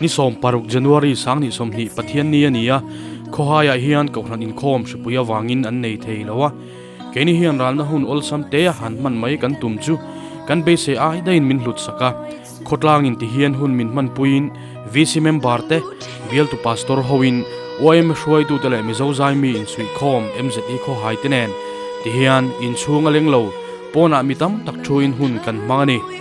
Ni sawm paruk January sang ni sawmhnih Pathian ni a ni a, khawhaiah hian kohhran inkhawm hripui avangin an nei thei lo a. Keini hian ralna hun awlsam tea han hman mai kan tum chu kan beisei ai daiin min hlut sak a. Khawtlangin ti hian hun min hman puiin VC member te, Bialtu Pastor hoin YM hruaitute leh Mizo zaimi insuihkhawm MZE khawhaite nen ti hian inchhung a leng lo pawnah mi tam tak thuin hun kan hmang a ni.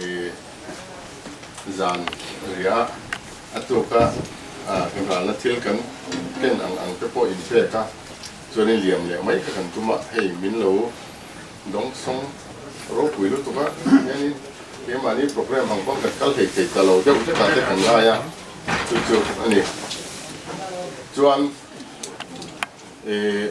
Ih zan ria a tuka hnuhralna thil kan ken ang ang te pawh inpek a, chuanin liam leh mai kha kan tum a, hei min lo dawng sawng ropui lutuk a, hianin keimahni programme ang pawh kan kal hei thei ta lo deuh hlek ah te kan ngai a, chu chu a ni chuan ih.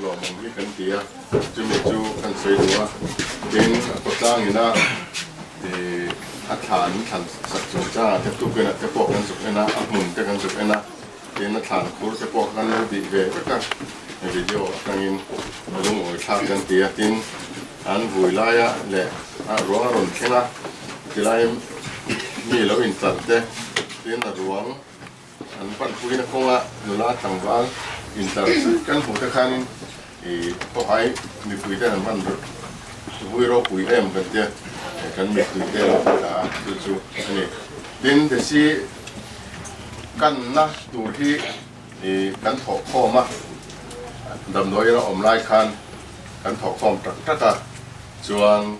Luahmawm hi kan ti a, chumi chu kan sawi duh a, tin a kaw tlangin a ih a thlan thlan sak chung changah te tuken-ah te pawh kan zuk en a, a hmun te kan zuk en a, tin a thlan khur te pawh kan lo dih ve vek a, he video atangin a lungawithlak kan ti a, tin an vui laia leh a ruang a rawn thleng a, tilai mi lo in chal te, tin a ruang. An palh phuina kawnga nula tlangval intar zui kan hmuhte khanin i khawhai mipuiten an hman ber vui ropui em kan tia kan mipuite erawh ka ta a chu chu a ni. Tin desi kanna tur hi i kan thawh khawm a, damdawi ila awm lai khan kan thawh khawm tak tak a chuan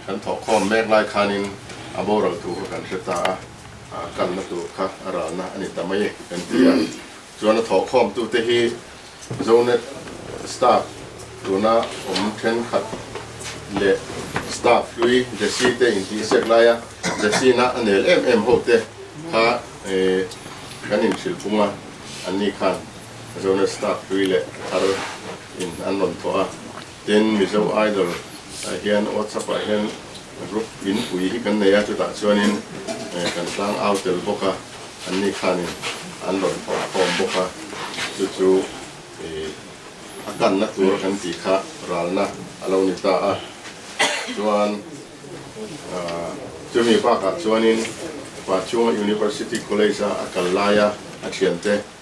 Kan thawh khawm mek lai khanin a boral tur kha kan hre ta a, a kalna tur kha a ralna a ni ta mai kan ti a. Chuan a thawh khawmtute hi Zonet staff tuna awm thenkhat leh staff hlui Jessie te intihsek laia Jessie-na a nel em em hote kha kan inhrilh pung a, anni khan Zonet staff hlui leh thar in an rawn thawh a. Tin, Mizo Idol ah hian WhatsApp ah hian group inpui hi kan nei a, chutah chuanin kan tlang au tel bawk a, anni khanin an rawn thawh khawm bawk a, chu chu a kanna tur kan tih kha ralna a lo ni ta a, chuan chumi bakah chuanin pa Chunga University College ah a kal laia a thiante,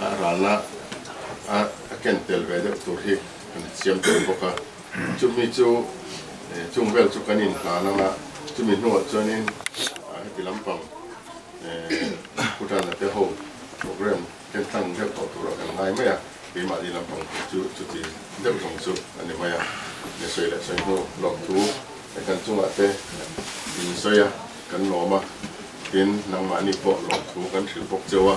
A rana a ken tel ve deuh tur hi kan siam tel bawk a, chumi chu chung vel chu kan inhlan ang a, chumi hnuah chuanin heti lampang Bhutana te ho programme ken tlang deuh tawh tur a kan ngai mai a, keimahni lampang tur chu chuti deuh zawng chu a ni mai a, sawi leh sawi hnu lawm thu kan chungah te insawi a, kan lawm a, tin nangmahni pawh lawm thu kan hrilh bawk cheu a.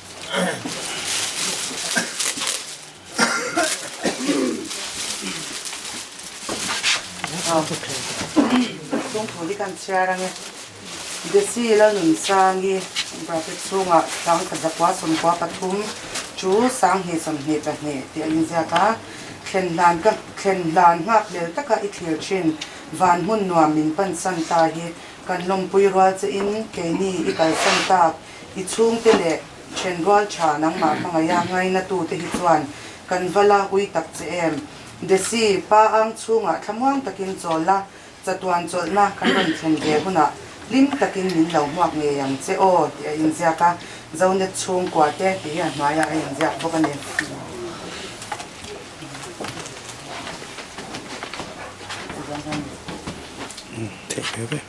chungkhur hi kan chhiar a nge desi la nun sang hi bracket chhungah tlang tha zakua sawmkua pathum chu sang hnih sawmhnih pahnih tih a inziak a thlen hlan ka thlen hlan nghak lel taka i thlir thin van hmun nuam min pansan ta hi kan lawmpui rual che in keini i kalsan tak I chhungte leh then rual tha nangmah ka ngaih a, ngaina tute hi chuan kan va la hui tak che em. Desi, Pa Ang chhungah thlamuang takin chawl la, chatuan chawlhna kan rawn thlen ve hunah hlim takin min lo hmuak ngei ang che aw, tih a inziak a, Zonet chhungkua te tih hi a hnuaiah a inziak bawk a ni.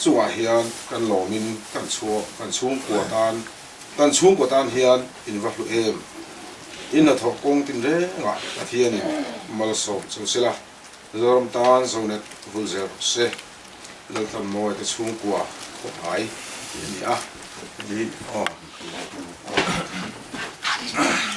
Chungah hian kan lawmin kan chhuah, kan chhungkua tan, kan chhungkua tan hian in va hlu em? In hna thawh kawng tin rengah Pathianin malsawm chu sela, Zoram tan zonet vul zer se, Laltham mawi te chhungkua khawp ngai tih a ni a. Nih aw. Sorry.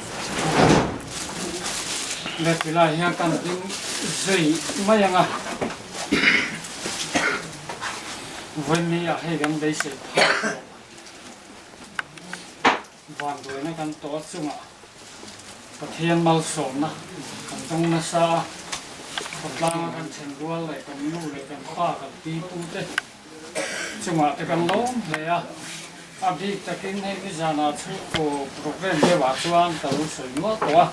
Battery lai hian ka rawn ding zui mai ang a. Vawnni ah hei kan beisei phah tawh. Van buaina kan tawh a chungah Pathian malsawmna kan zawng nasa a. Khawtlanga kan thlen rual leh kan nu leh kan pa kan pi pu te. Chungah te kan lo awm hle a, a bik takin hei Mizana chhungkaw programme deuhah chuan ka lo sawi nual tawh a,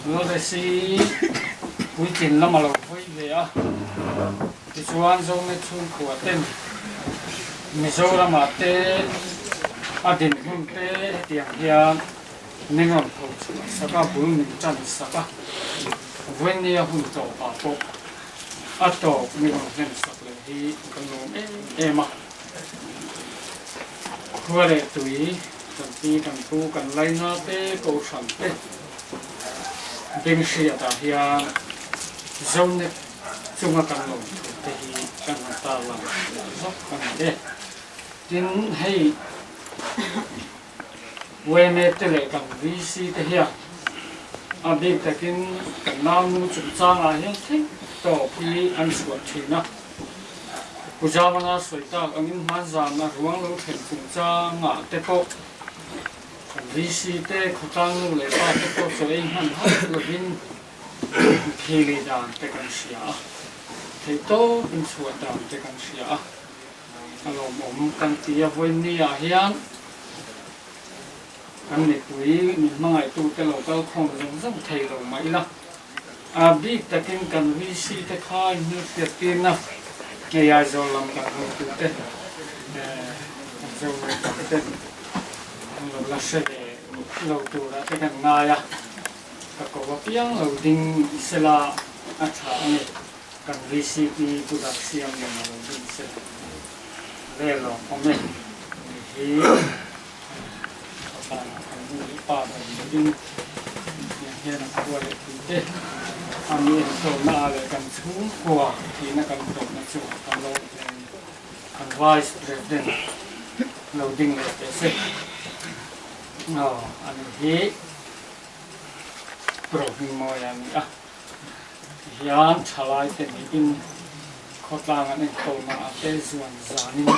Lawless-i puitling lam a lo hawi ve a, tichuan Zomet chhungkua ten Mizoramah te a dinhmun te hetiang hian min rawn tho chhuah sak a, bul min tan sak a, Vwenia hun tlawhpah pawh. A tawp ni rawn hlen sak leh hi ka nuam em em a. Khua leh tui, kan pi kan pu, kan laina te, kohhran te, Binhriat ah hian Zonet chunga kan lawm thut te hi kan han tarlang leh zak a ni e. Tin hei Wayne te leh kan VC te hian a bik takin kan nangnu chungchangah hian thik tawp hi an chhuah thin a. Pu Jamana sawi tak angin hman zan a ruang lo thlen chungchangah te pawh kan VC te khawtlang nu leh pa te pawh chaw ei hman hauh lovin mithi leh dan te kan hria a, thei tawpin chhuah dan te kan hria a. A lawm awm kan ti a, vawinia hian kan mipui min hmangaihtu-te lo kal khawm zawng zawng thei lo mah ila, a bik takin kan VC-te kha inhlutliat tirna ngei Aizawl lam kan hawi tute, kan Zonal dangte an lo la hre ve lo turah te kan ngai a, ka ko apiang lo ding sela a tha a ni. Kan VCP Budak Siam in a lo dun se leh ve lo awm e. Ni hi Khawpan a kan nu leh pa ber niin Puitling hian a khua leh tih te a mi en tawhna a leh kan chhungkua tihna kan tawhna chu a kan lo awm hle ani. Kan Vice President lo ding leh teh se. Aw, a ni hi Pro Hmingmawia a ni a. Tihian thalai te nih in khawtlang an enkhawmah a pe zuan zanin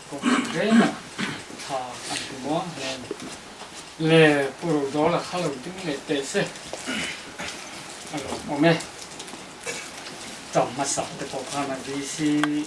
kawngpui rengah thla an hmu muang hleng. Le Pu Rodawl a kha lo ding leh teh se a lo awm e. Cham hmasa te pawh khan a busy.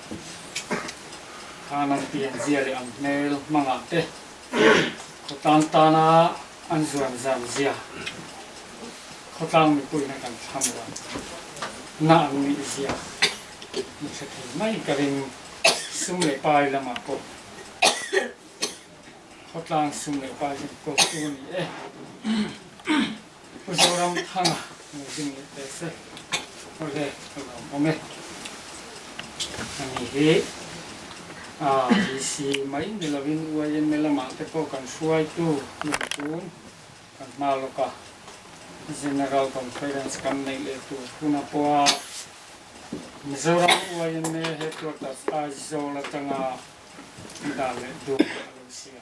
Khang an tih an zia leh an hmel hmangah te khawtlang tana an zuan zan zia khawtlang mipuiin a kan thlang lo. Na an nih zia ni ṭha thei mai ka ring. Sum leh pai lamah pawh khawtlang sum leh pai hian kohtu a ni e. Pu Zoramthanga min zing leh ve se. Awle ka lo hmawm e. A ni hi a DC mai ni lo in UIMLM ah te pawh kan hruai tu lung tun kan hma lawk a General Conference kan neih leh tur hun a pawh a. Mizoram UIMA Headquarters Aizawl atanga dan leh dun a lo si a.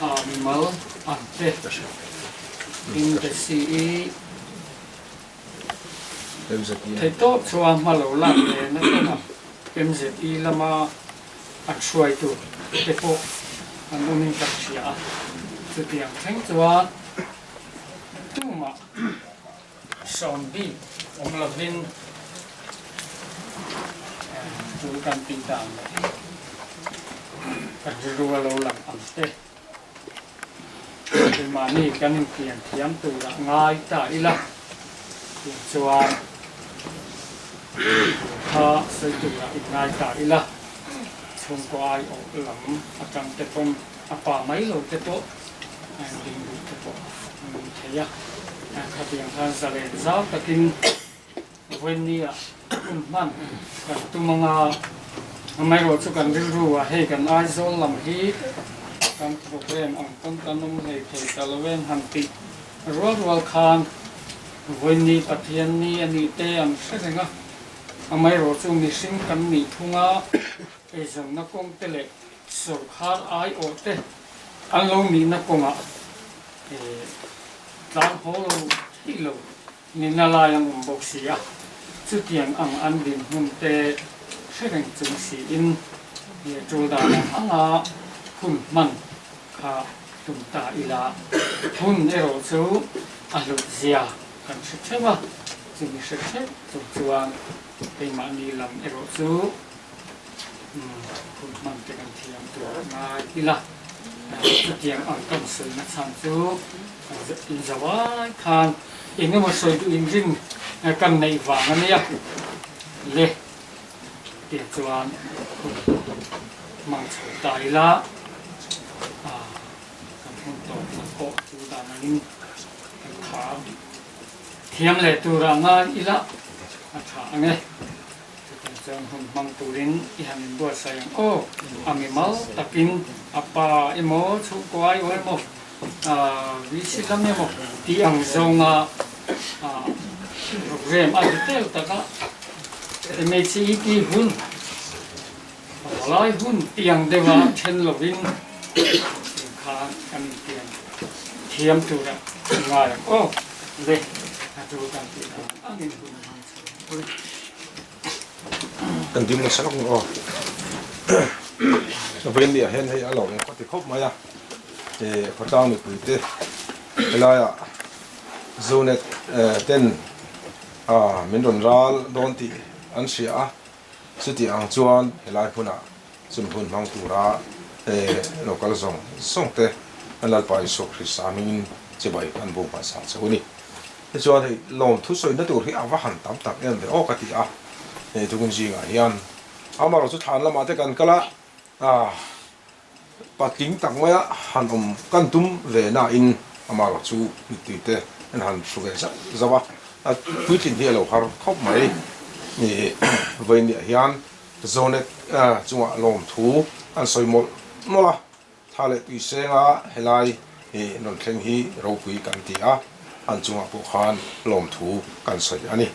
Ah mimal ah te in ka si i theih tawp chuan hma lo lak ve na tawng a, MZE lama a hruaitu te pawh an awm in ka hria a, chutiang thleng chuan tumah. Sawn bik awm lovin chu kan tih dan leh hi ka rilru a lo lang ang che. Keimahni kan inthiam thiam turah ngai ta ila tih chuan tur kha sawi turah in ngai ta ila chhungkaw aiawh lam atangte pawm. A pa mai lo te pawh dingluk te pawh a ni thei a, khatiang khan zalen zau takin Wennia hun hman kan tum anga amaherawh chu kan rilru a, hei kan Aizawl lam hi kan programme ang pawn kan awm hlei thei ta lo em han tih rual rual khan Wenni Pathian ni a nih te an hre reng a, amaherawh chu mihring kan nih thung a eizawnna kawngte leh Sorkhar aiawh te an lo nihna kawngah tlang haw lo theih lo nihna lai an awm bawk si a, chutiang ang an dinhmun te hre reng chung siin tul dan ang anga hun hman kha tum ta ila hun erawh chu a hlawt zia kan hre theuh a, chumi hre theuh chung chuan keimahni lam erawh chu. Kum hman te kan thiam tur ngai ila, chutiang ang kam sawiina chhan chu in zo ai khan engemaw sawi duhin ring kam neih vang a nia le tih chuan hmang chho ta ila, kan hun tawp tak pawh chu dan angin kan tha thiam leh tura ngai ila a tha ang e. Chutah chuan hun hmang turin i han inbuatsaih ang aw, a mi mal takin a pa emaw, chhungkuai aw emaw, VC lam emaw tih ang zawnga rukrem a vitel taka MHET hun, Hawlai hun tih ang deuha then lovin tiang kha kan intiam thiam tura i ngai ang aw. Ve, a tu kan tih dan ang angin hun hmang. Kan dim nasa lawk maw aw vei anih ah hian hei a lo eng khawti khawp mai a eh khawtlang mipui te helai ah Zonet ten ah min rawn ral dawn tih an hria a. Chutih ang chuan helai hmunah chumi hun hmang tura he lokal zawng zawng te an Lalpa Isua Krista mingin chibai an bu hmansa chauh a ni. Tichuan hei lawmthu sawina tur hi a va han tam tak em ve awk a ti a, hei tukin zingah hian amarawh chu thlan lamah te kan kal a, a. Patling tak mai a han awm kan tum ve nain amah erawh chu mittui te an han hru ve zauh zauh a, a puitlin hi a lo har khawp mai ni vawinia hian Zonet chungah lawmthu an sawi mawlh mawlh a, tha leh tui senga helai rawn thleng hi ropui kan ti a, an chungah pawh khan lawmthu kan sawi a ni.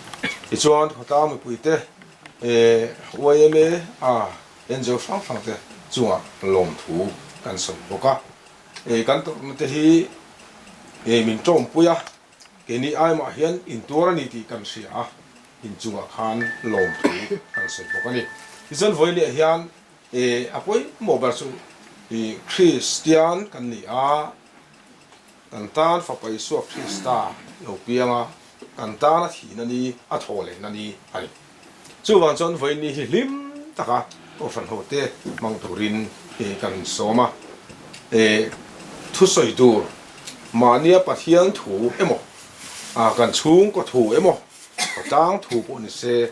Tichuan khawtlang mipuite YMA a. Angel hrang hrang te chunga lawmthu kan sawi bawk a, e kan tawrhna te hi e min tawmpui a, e ni ai mah hian in tuar a ni tih kan hria a, in chungah khan lawmthu kan sawi bawk a ni. Tichuan vawi leh hian e a pawimawh ber chu i Kristian kan ni a, Kan tan Fapa Isua Krista lo pianga kan tan a thihna ni, a thawhlenna ni a ni. Chuvang chuan vaini hi hlim taka ufanhote hmang turin kan insawm a, thusawi tur, mahnia Pathian thu emaw, kan chhungkaw thu emaw, khawtlang thu pawh ni se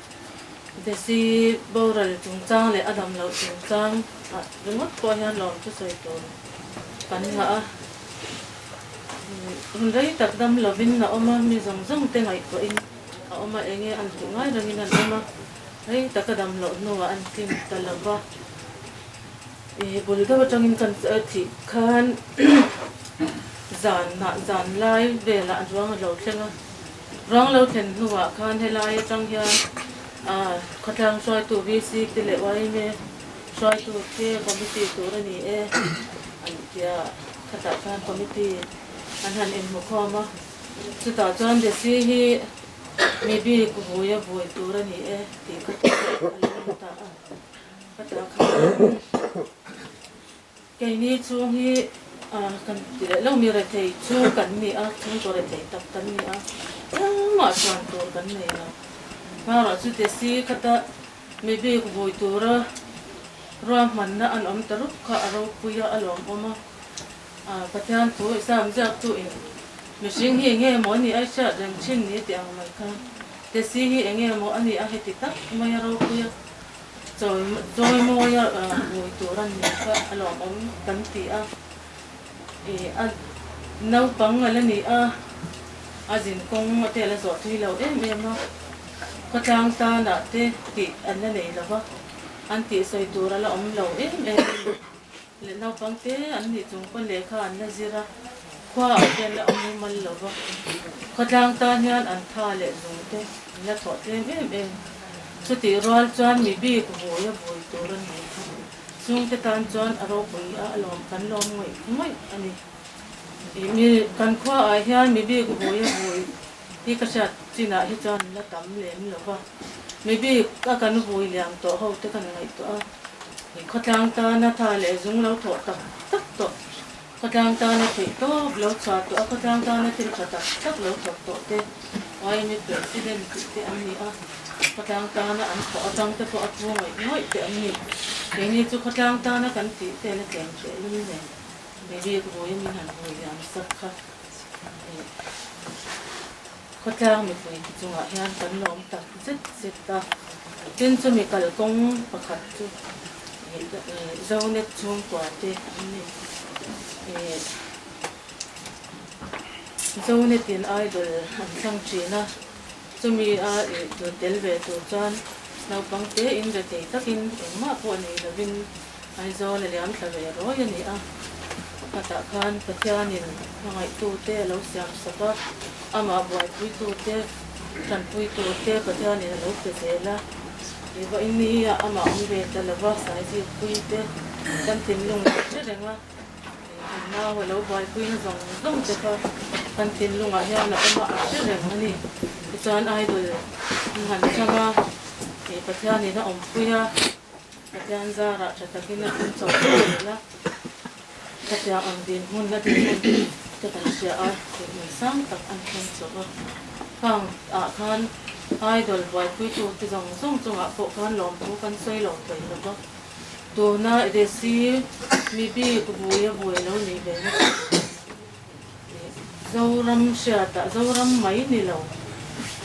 Desi boral chungchang leh a damloh chungchang a ringawt pawh hian lawm chu sawi tur kan ngah a. Hun rei tak dam lovin a awm a, mi zawng zawng te ngaihtuahin a awm a, eng nge an tih ngai rangin an awm a, rei taka damloh hnuah an tling ta lo va. Ih bul deuh atangin kan thih khan zan hnah zan lai velah ruang a lo thleng a. Vang lo thlen hnuah khan helai atang hian khawtlang hruaitu VC te leh Yma hruaitu te committee tur a ni e an tia khatah khan committee an han inhmukhawm a, chutah chuan DC hi mi bik vui a vui tur a ni e tih khatah a lo in ta a. Khatah khan. Keini chu hi kan tih leh lo mi rethei chu kan ni a, chhungkaw rethei tak kan ni a, engmah chuan tur kan nei lo. Hmarah chu Desi khata mi bik vui tura ruahmanna an awm ta rup kha a ropui a, a lawmawm a. Pathian thu i sam ziak chuin mihring hi enge maw a nih a i hriat reng thin ni teh ang mai kha. Desi hi enge maw a nih a heti tak mai a ropui a. Chawi mawi a ngui tur a ni kha a lawm ang kan ti a, a naupang a la ni a, a zin kawng a te a la zawh thui lo em em a, khawtlang tanah te tih an la nei lo va, an tih sawi tur a la awm lo em em a ni. Leh naupang te an nih chung pawn lehkha an la zir a, khua ah khian a awm rumal lo va. Khuatlang tan hian an tha leh lung te an la thawh tlem em em. Chutih rual chuan mi bik vui a vui tur a ni a, chung te tan chuan a ropui a, a lawm kan lawm ngawih ngawih a ni. Ih mi kan khua ah hian mi bik vui a vui Hi ka hriat chinah hi chuan la tam lem lo va, mi bik a kan vui liam tawh ho te kan ngaihtuah a, mi khawtlang tana tha leh zung lo thawh tak tak tawh, khawtlang tana theih tawp lo chhuah tawh a, khawtlang tana thil tha tak tak lo thawh tawh te YME President tih te an ni a, khawtlang tana an thawh atang te pawh a pu ngawih ngawih te an ni. Keini chu khawtlang tana kan tih te'n a tlem thehlul nen, mi bik vui a min han vui liam sak kha. Khawtlang mipui te chungah hian kan la awm tak zet zet a, tin chu mi kal kawng pakhat chu ih Zonet chhungkua te an ni. Ih Zonet in idol an thlang thin a, chumi a ih tel ve tur chuan naupang te in retei takin engmah pawh nei lovin Aizawl a liam ta ve rawi a ni a, pakhatah khan Pathianin a ngaihtute a lo siam sak a, amah buaipuitute, hranpuitute Pathianin a lo pe zel a, kei vahin ni hiaah amah awm ve ta lova sai zikpuite kan thinlung lam hle reng a, innau a lo buaipuina zawng zawng te kha kan thinlungah hian a awm a ang hle reng a ni. Tichuan idol in han changa Pathianin a awmpuia Hetiang zarah tha takin a awm chauh teh leh la, khatiang ang dinhmun a dinhmun te kan hria a, dinhmun sang tak an hman chauh a. Khang ah khan idol buaipuitu te zawng zawng chungah pawh khan lawmthu kan sawi lo thei hlawp a, tuna desi mibik buia buai lo nih ve nasa. Zoram hriatah Zoram mai ni lo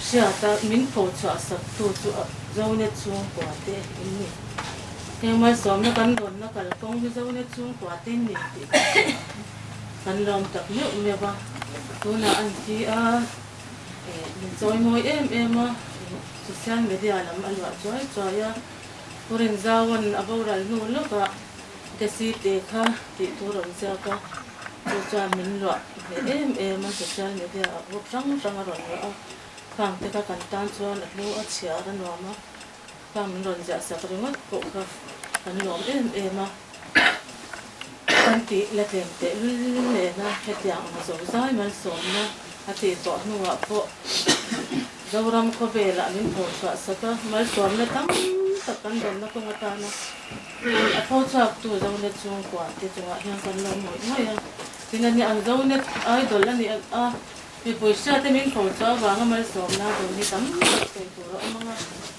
hriata min pho chhuah sap tu chu Zonet chhungkua te in ni. Heng malsawmna kan dawnna kal kawng hi Zonet chhungkua te in ni tih ka hria. Kan lawm tak meuh meuh a, tunah a ni hi a min chawi mawi em em a, social media lam a luah chuai chuai a, Purinzawan a boral hnu lawkah Desi te kha tih thu rawn ziak a. chu chuan min luah hle em em a social media ah group hrang hrang a rawn luah a, khang te kha kan tan chuan a hlu a chhiar a nuam a, khang min rawn ziah sak ringawt pawh kha kan nuam em em a, kan tih la tlem teh lul nen a, hetiang emaw zozai malsawmna a tih tawh hnungah pawh Zoram khawvelah min pawh chhuah sak a, maltuamna tam tak kan dawmna kawng atana a tho chhuaktu Zonet chhung kuah te chungah hian kan lo ngawih ngawih a. Tin a nia ang, Zonet idol a ni a, mipui hriate min pawh chu avanga maltuamna a dawn hi tam tak sawi tur a awm ang a.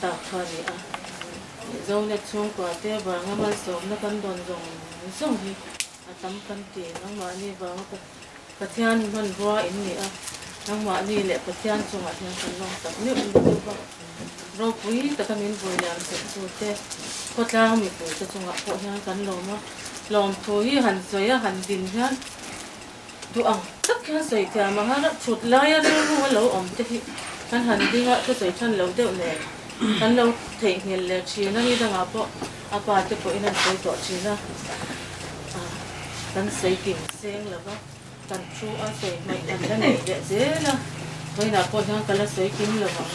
tak kha a ni a. Zolet chhungkua te vanga malsawmna kan dawn zawng zawng hi a tam kan ti. Nangmahni vanga Pathian hmanrua in ni a, nangmahni leh Pathian chungah hian kan lawm tak meuh in ka duh a. Ropui taka min bul liam serh tu te, khawtlang mipui te chungah pawh hian kan lawm a. Lawmthu hi han sawi a, han din hian. duh ang tak hian sawi thiam ang a chhut laia rilru a lo awm te hi kan han ding a thusawi than loh deuh nen kan lo theihnghilh leh thin a nidang ah pawh a pa te pawhin an sawi tawh thin a ah kan sawi kim seng lo va kan thu a sawi hmai kan la nei leh zel a vawiinah pawh hian ka la sawi kim lo ang.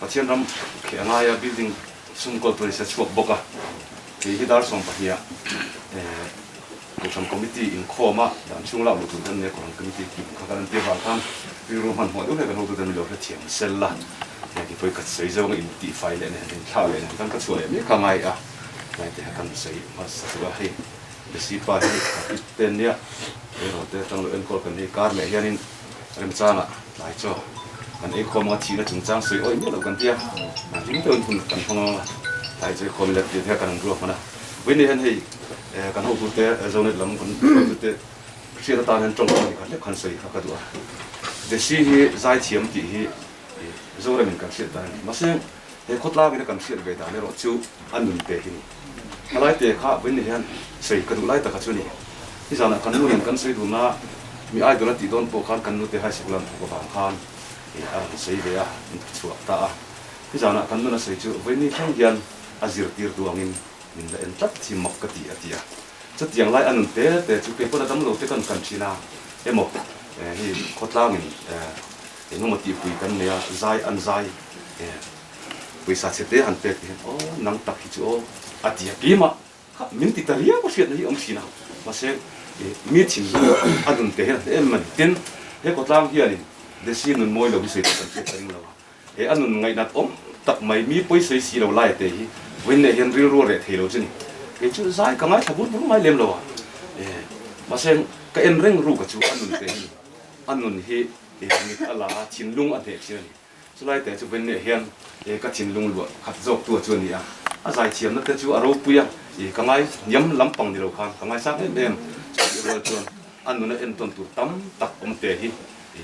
Pathian ram kheh a ngaia building chhung kawltu ni se chhuak bawk a, kei hi dar sawm pahniha Kohhran Committee inkhawma dan chhung lak luh tur te an nia, Kohhran Committee tih pakhat kan entir dan khan rilru hman huah deuh hlek kan hotu te milo hre thiam sel la, heti pawh i kat sawi zong a intihfai leh nen inthlah leh nen khan ka chhuah leh mek a ngai a, heti kha kan sawi hmasa tawh a, hei Besipa hi a pit te nia, erawh te tang lo enkawl kan hei kar leh hianin. Remchanga tlai chu kan ei khawm anga thihna chungchang sawi awih miah lo kan tia ring deuhin hun kan hmang a tlai chu ei khawm let tir hian kan rawn ruak man a vei ni hian hei kan hotu te Zonet lam kan hotu te hriat atan hian tawng ani kha hlek khan sawi kha ka duh a Jessy hi zaithiam tih hi Zoram in kan hriat dan ani mahse He khawtlang in a kan hriat ve dan erawh chu a nun pek i ni. Hmalai te kha vawiin hian sawi ka duh lai taka chu a ni. Hi zanah kan nu nen kan sawi dun a, mi ai dun a tih dawn pawh khan kan nute high school a an puk avang khan ih a rawn sawi ve a, an dik chhuak ta a. Hi zanah kan nuna sawi chu vawiin ni thleng hian a zirtir tu angin min la en tlat chim mak ka ti a ti a. Chutiang lai a nun pe pe chu kei pawn a dam lo te kan kan thin a, emaw hi khawtlang in Engemaw tihpui kan nei a, zai an zai e, pawisa chhe te an pek tih hian aw nang tak hi chu aw a ti a, keimah kha min ti ta riau a hriatna hi awm thin a, mahse mi thin hi a nun te hian a hle em em a ni. Tin, he khawtlang hianin desi nun mawi lo hi sawi tak kan pek ta ding lo a, he a nun ngainat awm tak mai mi pawisa si lo lai a te hi vawiin leh hian rilru a reh thei lo chu ni, kei chu zai ka ngaithla bur bur mai lem lo a e, mahse ka en reng ruka chu a nun te hi a nun hi Eha mit a la a, thinlung a hneh thin a ni. Chulai te chu Venneah hian e ka thinlung luah khat zawktua chu a ni a, a zaithiamna te chu a ropui a, e ka ngai hniam lampang ni lo khan ka ngaisam em em. Chutih rual chuan a nuna en tawn tur tam tak awm te hi e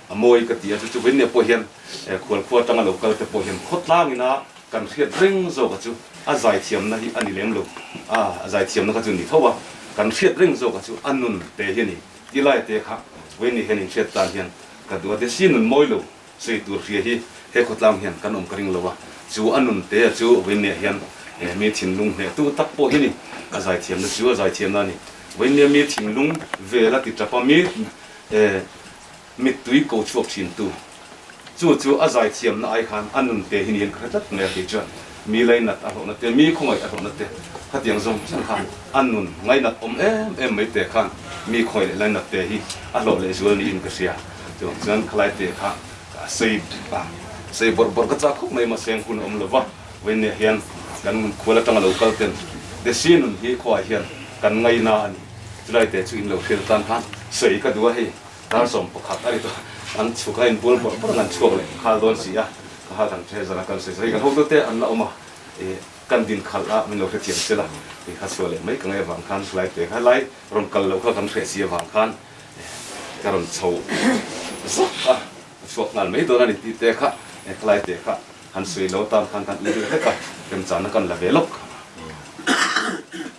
a mawi ka ti a, chu chu Venneah pawh hian e khual khua tang a lo kal te pawh hian khawtlang ina kan hriat reng zawk a chu a zaithiamna hi a ni lem lo a, a zaithiamna kha chu ni tho a, kan hriat reng zawk a chu a nun te hi a ni. Ti lai te kha Vawiin nih hian inhriat tan hian ka duh a ti si nun mawi lo sawi tur hria hi he khawtlang hian kan awm ka ring lo a chu a nun te a chu Vawiin nia hian he mi thinlung hneh tu tak pawh hi ni a zai thiam na chu a zai thiam na a ni Vawiin nia mi thinlung vel a ti tap a mi eh Mittui ko chhuak thintu chu chu a zai thiamna ai khan a nun te hi niin ka hre tlat mai a kei chuan mi lei nat a hlawhna te mi khawngaih a hlawhna te khatiang zawng chiang khan a nun ngai nat awm em em mai te khan mi khawngaih leh lei nat te hi a hlawh leh zual niin ka hria tiang chuan khalai te kha a sei a sei bawrh bawrh ka chah khawp mai mahse an hun a awm lo va vawinneh hian kan nun khual atang a lo kal ten desi nun hi khawai hian kan ngaina a ni chulai te chu in lo hriat atan khan sawi ka duh a hei. Tar sawm pakhat a ni chu an chhu kha in bual bawrh bawrh an han chhuak leh nghal dawn si a, ka hal dan che zan a kan sawi sawi kan hotu te an la awm a i kan din khalh a min lo hrethiam tel a i kha chhuah leh mai ka ngai avang khan hlai pek a helai rawn kal loh kha kan hreh si avang khan i ka rawn chho zah a ka chhuak nghal mai dawn a ni tih te kha i khalai pek kha han sawi lo tan khan kan i dik dik a remchang na kan la ve lawk.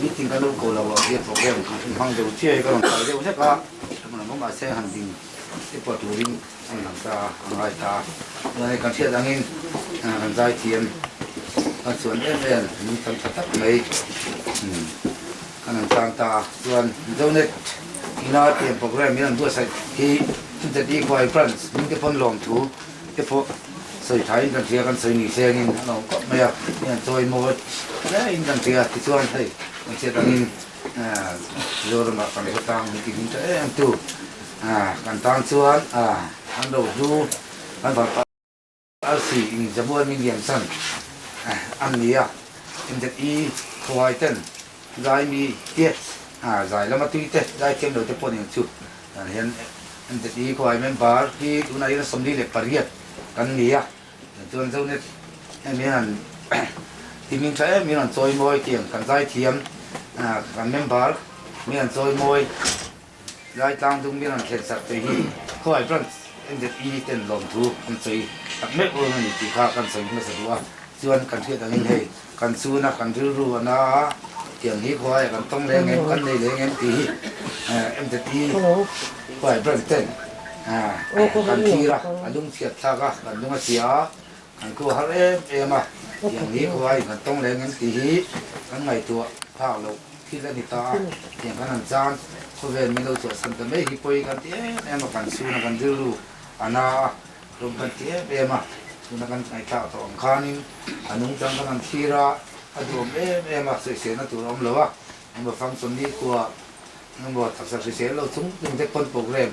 Meeting ka lo ko lo ah hian programme chu i hmang deuh chiaia ka rawn kai deuh hlek a, mahse han din i pawh turin a inang ta a, a ngai ta a. Tunah kan hriat angin kan zaithiam kan chuan em em min tam tha tak mai kan han tan ta a, chuan Mizonet Inartiam programme in an buatsaih hi Chutiatihkhua branch hmingte pawn lawmthu, Te pawh sawi tha in kan hria kan sawi ni thleng in a lo kawp mai a, hei an chawi maw hle in kan hria ti chuan hei kan hriat ang in Mizoram ah kan khawtlang hming tih hming ta em tu kan tan chuan an lo du kan van pah RC in Zabuai Mingiam San an ni a, index i khawai ten Zai mi te, aa zai lama tui te, zai thiam lo te pawh nen chu tunah hian NZEE khawiah member hi tunah hian sawmli leh pariat kan ni a, chuan Zonet em hian han tihming tha em in han chawi mawi tih ang, kan zai thiam aa kan member min han chawi mawi. Laitlang dum mian an thlen serh te hi khawai branch NZE ten lawmthu an sawi tak mek run a ni tih kha kan sawi hmasa duh a, chuan kan hriat angin hei kan chhuna kan rilru a na a, tiang hi khawai a kan tawng leh angem kan nei leh angem tih hi NZE khawai branch ten kan thlir a, a lungchhiat thlak a, kan lung a chia a, Kan tua har em em a, tiang ni khaw a inhan tawng leng em tih hi kan ngaihtuah phak loh thil a ni ta a, tiang kan han chan khawvel min lo chawhsan ta mai hi pawi kan ti em em a, kan sun a kan rilru a na a, rawng kan ti em em a, tun a kan ngaihtlak tawh ang khanin a nungchang kan han thlir a, a duhawm em em a, sawisehna tur a awm lo a, engmaw function nikhua engmaw taksa hrisel lo chung chung te pawn programme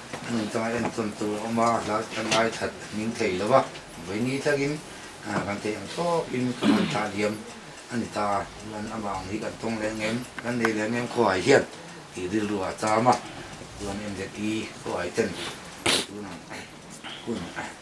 Hemi chuan en tawn tur a awm a, a hlai a hlai that a hming tlei lo a, vei ni tlakin aaa kan teh ang tawpin ka han thlahliam a ni ta, chuan amah ang hi kan tawng leh ang em, kan nei leh ang em khawai hian? tih rilru a cham a, chuan en leh pi khawai ten tun ang hun.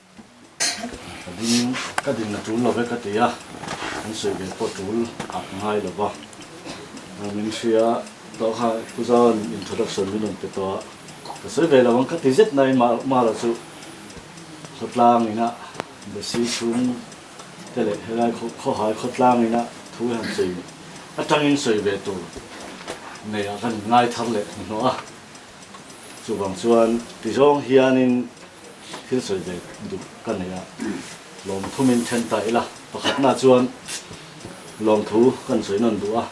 Ka ding, ka din a tul lo vek a ti a, an sawi ve pawh tul a ngai lo va. Min hria tawh kha pu zan introduction min rawn pe tawh a, ka sawi ve lo ang ka ti zet nai mahla chu khawtlangin a basi chhung te leh helai khawhai khawtlangin a thu han sawi atangin sawi ve tur nei ah ka rawn ngaithar leh hnuhnawh a. Chuvang chuan tizawng hianin thil sawi ve duh ka nei a, lawmthumin then ta ila, pakhatnaah chuan lawmthu kan sawi nawn duh a,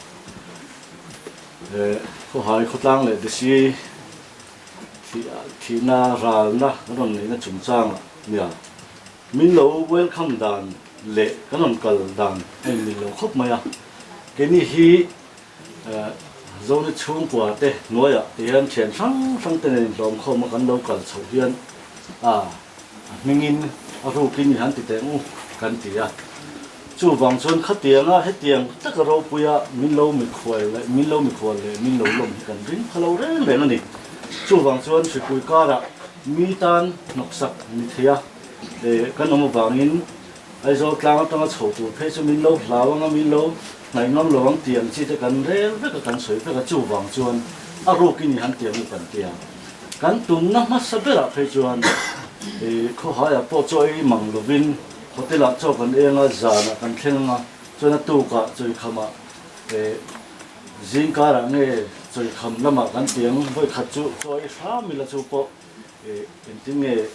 eh khawhai khawtlang leh desi thihna ralna kan rawn neihna chungchanga nia min lo welcome dan leh kan rawn kal dan a inneih loh khawp mai a, keini hi Zoni chhungkua te hnuaiah hian thian hrang hrang te nen hlawm khawma kan lo kal chhoh hian ah a hmingin a rukin i han ti teh ngu kan ti a. Chuvang chuan khatianga hetiang taka ropuia min lo mikhual leh min lo mikhual leh min lo lawm hi kan ring kha lo reng reng a ni. Chuvang chuan hripui karah mi tan hnawksak ni theia kan awm avangin, Aizawl tlang atanga chho tur phei chu min lo hlau ang a, min lo hnaihnuam lo ang tiang chi te kan rel vek a, kan sawi vek a, chuvang chuan a ruk i ni han tia mi kan ti a. Kan tumna hmasa berah phei chuan khawhaiah pawh chaw ei mang lovin hotel-ah chaw kan eng a, zanah kan thleng ang a, chuan a tukah chawikhamah zingkarah nge chawikhamlamah kan tiang vawikhat chu chaw ei hram ila chu pawh Engtin nge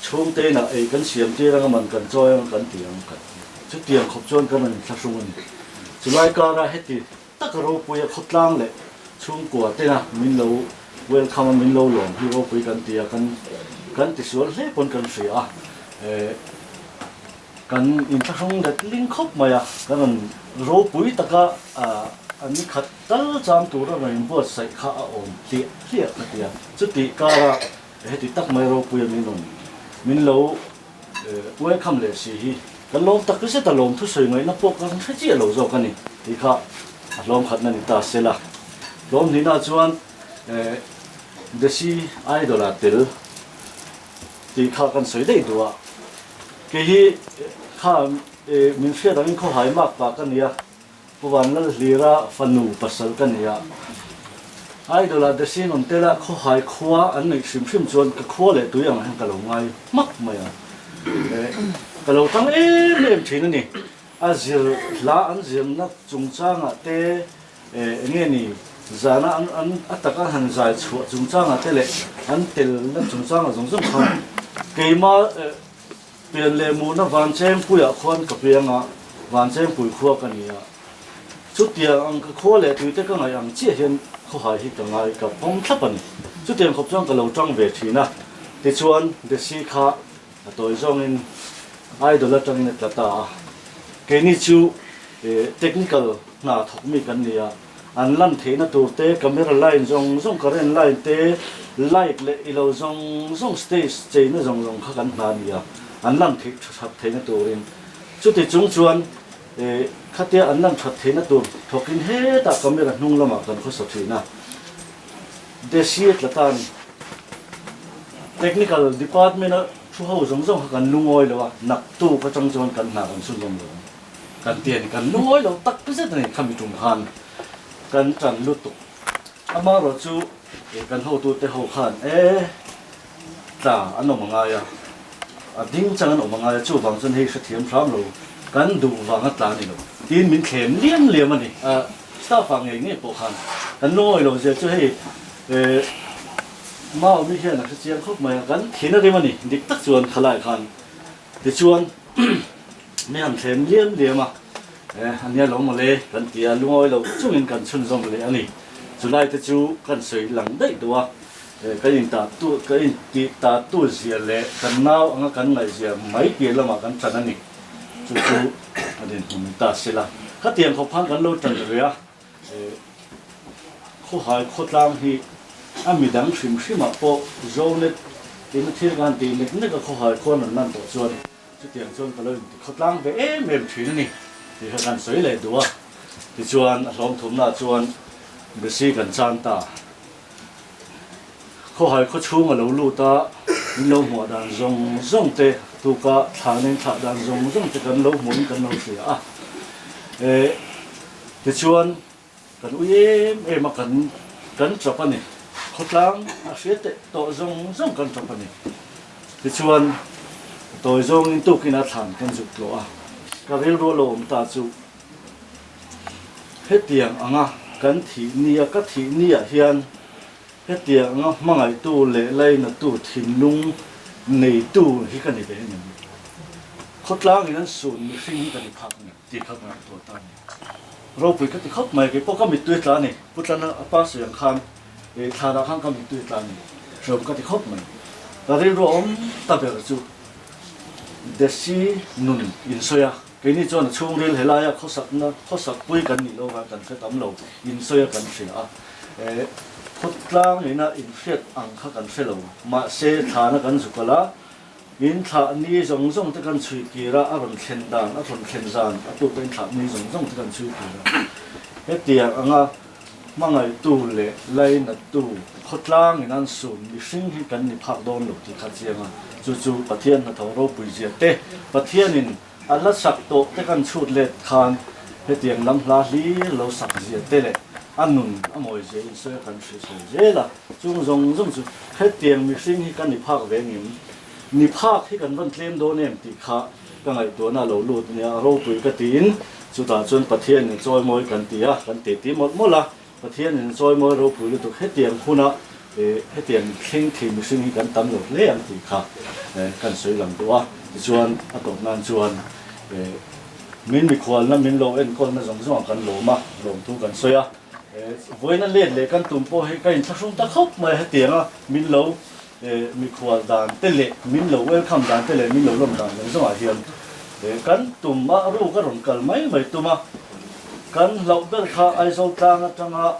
chhungte inah ei kan siam tir ang a, man kan chawi ang a kan ti ang kan ti. Chutiang khawp chuan ka rawn inthlahrung a ni. Chulai kara heti taka ropuia khawtlang leh chhungkua tena min lo welcome a, min lo lawm hi ropui kan tia kan kan tisual hle pawn kan hria a. Kan inthlahrung let ling khawp mai a, ka rawn ropui taka a nikhat Kal chang tura rawn buatsaih kha a awm hliah hliah ka ti a. Chutih kara heti tak mai ropui a min rawn min lo welcome leh si hi, kan lawm tak reset a, lawm thusawi ngaihna pawh ka hre chiah lo zawk a ni tih kha a hlawm khatna ni ta sela, hlawm hnihna chuan Desi Idol-a tel tih kha kan sawi daih duh a, kei hi kha min hriat angin khawhai mak pa ka nia. Pu Van Lal Hlira fanu pasal ka ni a, Idol ah Desina awm te lah khawhai khua an neih hrim hrim chuan ka khua leh tui angah hian ka lo ngai hmak mai a, eh ka lo tang em em thin a ni, a zir hla an zir na chungchangah te eh enge ni zana an an a taka han zai chhuah chungchangah te leh an tel na chungchangah zawng zawng khan keima eh Pen leh muhna Vanchempuia khuan ka pe anga Vanchempui khua ka ni a. Chutiang ang ka khua leh tuite ka ngaih ang chiah hian khawhai hi ka ngai ka pawm thlap a ni. Chutiang khawp chuan ka lo ṭang ve ṭhin a. Tichuan Desi kha a tawi zawngin idol aṭangin a tla ta a. Keini chu technical hna thawk mi kan ni a. An lan theihna tur te, camera line zawng zawng, current line te, light leh ilo zawng zawng stage cheina zawng zawng kha kan hna a ni a, an lan theih tha that theihna turin. Chuti chung chuan eh khatia an lan that theihna tur thawkin hetah camera hnung lamah kan khawsa thin a, Desi tla tan technical department a thu ho zawng zawng kha kan lungawi lo a, naktuk atang chuan kan hna kan sunawm lo. Kan ti a ni, kan lungawi lo tak pi zet a ni khami ṭum khan kan ṭan lutuk. Amarawh chu ih kan hotute ho khan e ṭa an awm a ngai a, a ding chang an awm a ngai a, chuvang chuan hei hrethiam hram lo, kan duh vanga tla a ni lo tiin min thlem liam liam a ni. A staff a ngei ngei pawh khan kan lungawi lo zia chu hei eh Mao mi hian a hrechiang khawp mai a, kan thin a rim a ni, dik tak chuan khalai khan Tichuan, mi han thlen liam liam a, eh, ania lo mawle kan ti a, lungawi lo chungin kan chhunzawm leh a ni. Chulai te chu kan sawi lang daih duh a, eh, kan intah tu, kan intih ta tu zia leh kan nau anga kan ngaih zia mai tir lamah kan tan a ni. Chu chu a dinhmun ta sila, khatiang khawphan kan lo tan ria, Khawhai khawtlang hi a midang hrim hrimah pawh Zonet in a thil ngan ti nek nek a khawhai khaw nun nan tawh chuan chutiang chuan ka lo inti khawtlang ve em em thin a ni tih kha kan sawi leh duh a, tichuan a hlawmthumnaah chuan Bisi kan chan ta. Khawhai khaw chhung a lo lut a, min lo hmuah dan zawng zawng te tuka thlahnem thlah dan zawng zawng te kan lo hmuh in kan lo hria a. Tichuan, kan ui em em a kan kan tawp a ni. Khawtlang a hria teh tawh zawng zawng kan tawp a ni. Tichuan, tawi zawngin tukin a thlan kan zuk tlawh a. Ka rilruah lo awm ta chu hetiang anga kan thih nia, ka thih niah hian hetiang anga hmangaihtu leh lainatu thinlung neitu hi ka ni ve em em. Khawtlangin an sun mihring hi ka ni phak a ni. Tih ka ngai tawh ta ni. Ropui ka ti khawp mai, kei pawh ka mittui tla a ni. Pu Tlan a pa sawi ang khan ih thla dah khan ka mittui tla a ni. Hreawm ka ti khawp mai. Ka rilru awm ta ber chu Desi nun in sawi a, keini chuan a chhungril he laia khawsakna, khawsak pui kan nih lo khan kan hre tam lo, in sawi a kan hria a. Eh, khawtlang ina in hriat ang kha kan hre lo, mahse thlana kan zukal a, In thlah ni zawng zawng te kan chhuih kir a, a rawn thlen dan, a rawn thlen zan a tu pawh in thlah ni zawng zawng te kan chhuih kir a. Hetiang anga hmangaitu leh lainattu khawtlangin an sum mihring hi kan ni phak dawn lo tih kha chiang a, chu chu Pathian hna tho ropui zia te, Pathianin. A la sak tawh te kan chhut let khan hetiang lam hla hlir lo sak zia te leh a nun a mawi zia insawiha kan hrisel zel a, chung zawng zawng chu hetiang mihring hi ka ni phak ve ang em? Ni phak hi kan rawn tlem dawn em tih kha ka ngaihtuahna a lo lut nia, a ropui ka tiin chutah chuan Pathianin chawimawi kan ti a, kan ti ti mawlh mawlh a, Pathian in sawi mawi ropui lutuk hetiang huna hetiang thleng thei mihring hi kan tam lo hle ang tih kha kan sawi lang duh a, tichuan a tawp nan chuan min mikhualna min lo enkawlna zawng zawng ang kan lawm a, lawm thu kan sawi a, vawiina let leh kan tum pawh hi ka inthlahrung ta khawp mai a hetianga min lo Mikhual dan te leh min lo welcome dan te leh min lo lawm dan lem zawngah hian kan tum a ruk a rawn kal mai mai tum a, kan hlauh ber kha Aizawl tlang atanga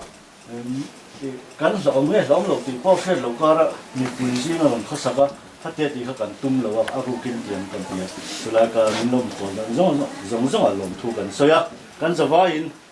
kan hlauhawm nge hlauhawm loh tih pawh hriat loh kara mipui zing a rawn khasak a, khate tih kha kan tum lo a, a rukin tiang kan ti a, chulai kara min lawm khawm dan zawng zawng zawng zawngah lawmthu kan sawi a, kan zavaiin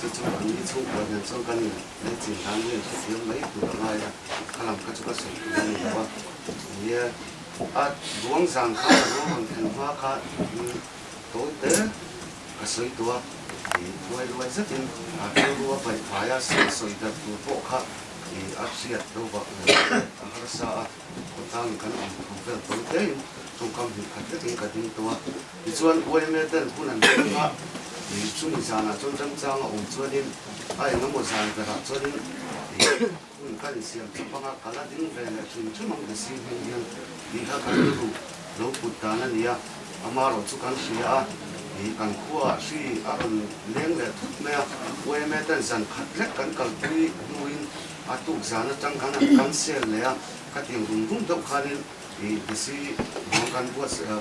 Chu chu kan i chhungkawl hian chuan kan in leh chin dan hian ka fiam mai tur a ngai a, kha lam kha chu ka sawi thei a ni lo a, nia a Duangzan kha a lo rawn thlen hma kha in to te ka sawi tawh a, i ruai ruai zetin a rilru a paihfai a, sawi sawi darh tur pawh kha i a hriat lo vak lo a harsa a. Khawtlang in kan awm tho fel tawn tlein chawngkam hnih khat vekin ka ding tawh a, tichuan YML ten hun an hung a, ih chumi zanah chuan remchang a awm chuanin a engemaw zan berah chuanin ih hun ka insiam chap ang a, ka la ding ve leh hrim hrim ang ti si hming hian ih kha kan lu ruh lo put dan a nia, amarawh chu kan hria a, ih kan khua ah hri a rawn leng leh thut mai a, YML ten zan khat lek kan kalpui hnuin A tukzan atang khan an cancel leh a, ka ti ang rum rum deuh khanin i desi vang kan buat a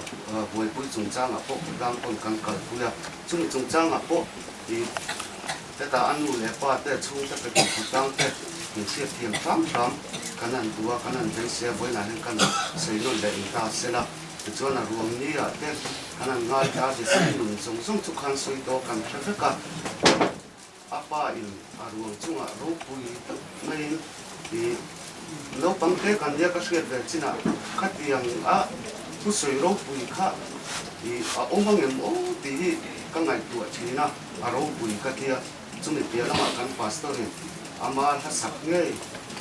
buaipui chungchangah pawh khawtlang pawn kan kalpui a, chumi chungchangah pawh i hetah a nu leh pa te chhungte pe pawh khawtlang te inhriat thiam hrâm hrâm kan han duh a, kan han veng se a, vawiinah hian kan sawi nawn leh in ta sel a, tichuan a ruam ni ah te kan han ngaita desi nun zawng zawng chu khan sawi tawh kan hre vek a. A pa in a ruang chungah ropui ngaiin i naupang te kan nia ka hriat ve chin ah khatiang a pu sawi ropui kha i a awm ang em aw tih hi ka ngaihtuah thin a a ropui ka tia chumi piah lamah kan pastor in ama hlasak ngei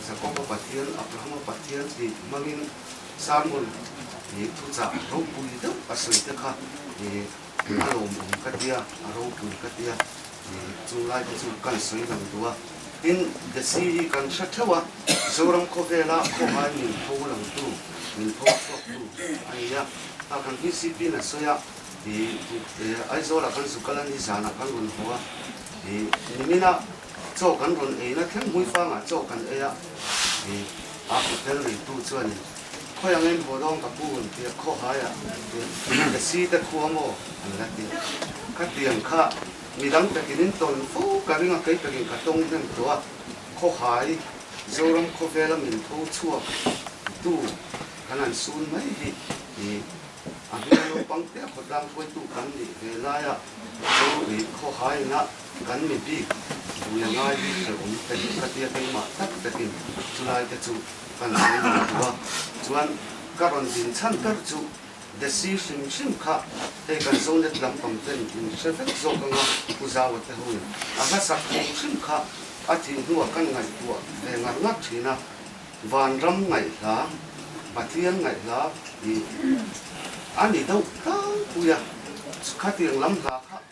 Jakoba Pathian Abrahama Pathian tih hmangin Samuel i thuchah ropui deuh a sawi te kha i A lo mum ka tia, a ropui ka tia ni chunglai te chu kan sawi lang duh a. Tin, Desi hi kan hre theuh a, Zoram khawvela khawhai min pho lang tu, min pho chhuak tu a ni a. Tah kan hmisipi na sawi a, ih, Aizawla kan zu kal a ni zanah kan rawn haw a, ih, nimina chaw kan rawn ei na thleng hmuifangah chaw kan ei a, ih, a hotel reitu chuanin Khawi angin Vawlawng ka pu hun tia khawhai ah an tir. Ka si te khua maw? an la ti. Ka tiang kha mi dang takin in tawn fo ka ring a kei takin ka tawng hnem tawh a, khawhai Zoram khawvel a min tho chhuak tu kan an sun mai hi i a hmel naupang te a khawtlang khuai tu kan nih ve lai a chu i khawhai in a kan mi bik bul a ngai bik ber awm te ka tia keimah tak takin chu lai te chu A la hlei lo chu a, chuan ka rawn din chhan ber chu desi hrim hrim kha hei kan Zonet lampang ten in hre vek zawk anga Pu Zawa te ho in a hlasak hrim hrim kha a tih hnu ah kan ngaihtuah ve ngar ngar thin a, Vanram ngaihla, Pathian ngaihla ih a ni deuh tlang pui a, khatiang lam hla kha.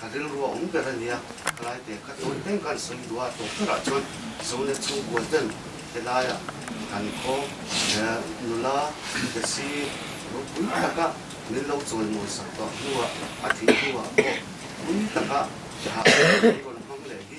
Ka rilru awm ber a nia, helai te ka tawi teng kan sawi duhah tawp berah chuan Zone-a chhungkua ten helaia kan khaw nula Desi nupui taka min lo chawi mawi sak duah hnuah a thih hnuah pawh pui taka a rawn hmang leh hi.